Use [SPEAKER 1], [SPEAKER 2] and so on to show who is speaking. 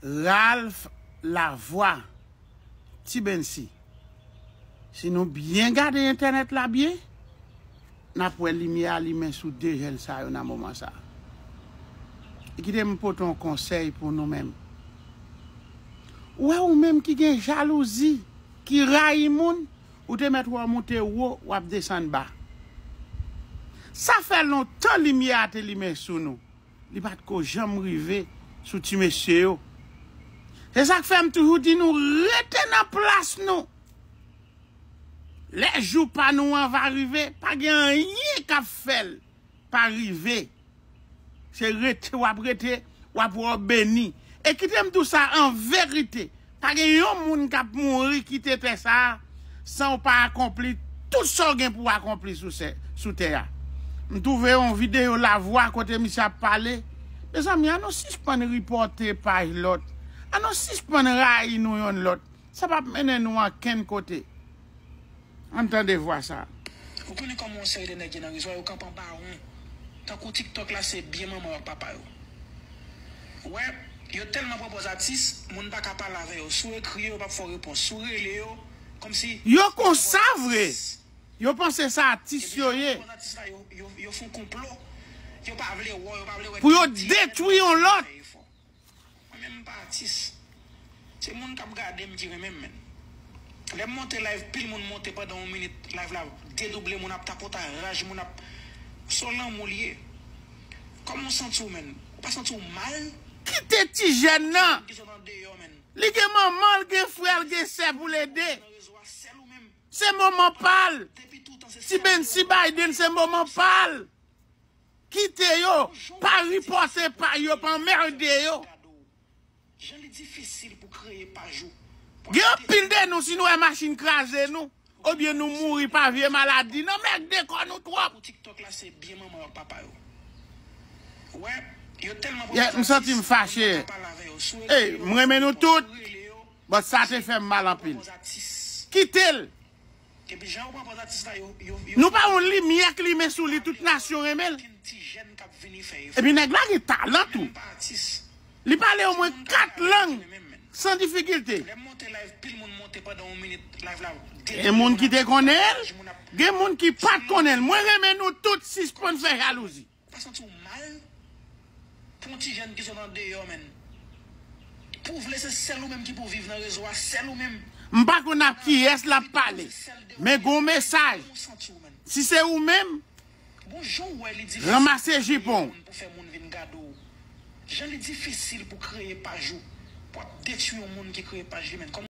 [SPEAKER 1] Ralph Lavoie Ti Bensy Si nou byen gade entènèt la byen, n ap wè limyè a limen sou 2 jèn sa yo nan moman sa. E kite m pote yon konsèy pou nou menm. Ou wè ou menm ki gen jalouzi, ki rayi moun, ou te mèt wè w moute wo, w ap desann ba. Sa fè lontan limyè a te limen sou nou. Li pat ko janm rive sou ti mesye yo. Se sak fè m toujou di nou rete nan plas nou. Lè jou pa nou an va rive, pa gen anyen k ap fè l pa rive. Se rete w ap rete, w ap wè w beni. E kite m di w sa an verite. Pa gen yon moun k ap mouri kite tè sa a san w pa akonpli tout sa w gen pou w akonpli sou tè a. M twouve yon videyo Lavwa kote misye ap pale. Mezanmi, an nou sispann ripòte paj lòt. An nou sispann rayi nou yonn lòt. Sa p ap mennen nou ankenn kote. Ann tande vwa sa. Ou konnen koman yon
[SPEAKER 2] seri de nèg ye nan rezo a yo kanpe an bawon tankou tiktok la se byen manman yo ak papa yo wè yo tèlman pran pòz atis moun paka pale avè yo si w ekri yo yo pap fè w repons si w rele yo kòmsi Yo konsa
[SPEAKER 1] vre! Yo panse sa atis yo ye.
[SPEAKER 2] Pou yo detwi
[SPEAKER 1] yon lòt! Mwen
[SPEAKER 2] menm m pa atis. Se moun kap gadem ki renmenm menn. Lèm monte live pil moun monte pandan yon minit live la dedouble moun ap tapota raj moun ap son lanmou li ye. Kòmanw santiw menn? Ou pa santiw mal? Kite ti
[SPEAKER 1] jèn nan. Li gen manmanl gen frèl gen sè poul ede. Se moman pal. Ti Bensy Biden se moman pal. Kite yo, pa riposte paj yo, pa anmerde yo.
[SPEAKER 2] Gen anpil
[SPEAKER 1] de nou si nou wè machin kraze nou, obyen nou mouri pa vye maladi nan merde kò nou twòp.
[SPEAKER 2] Yeah m santim fache
[SPEAKER 1] Ey m renmen nou tout but sa te fèm mal anpil Kitel Epi jan yo pran pòz atis la yo yo yo Nou pa yon limyè k limen sou li tout nasyon renmen l. Ankenn ti jèn k ap vini fè efò. Epi nèg la gen talan tou. Menm pa atis. Li pale omwen 4 lang san difikilte. Lè m monte live pil moun monte pandan yon minit live la delivre Gen moun ki te konnen l, gen moun ki pat konnen l. Mwen renmen nou tout sispann fè jalouzi. Ou pa santi w mal
[SPEAKER 2] pou yon ti jèn ki sot andeyò menn. Pou vle se sèl ou menm ki pou viv nan rezo a sèl ou menm. M pa konn ap
[SPEAKER 1] kiyès lap pale men gon mesaj si se ou menm Bon jan w wè li ranmase difisil pou kreye jipon w. moun pou fè moun vin gade
[SPEAKER 2] w jan li difisil pou kreye paj ou pou ap detwi yon moun ki kreye paj li menn.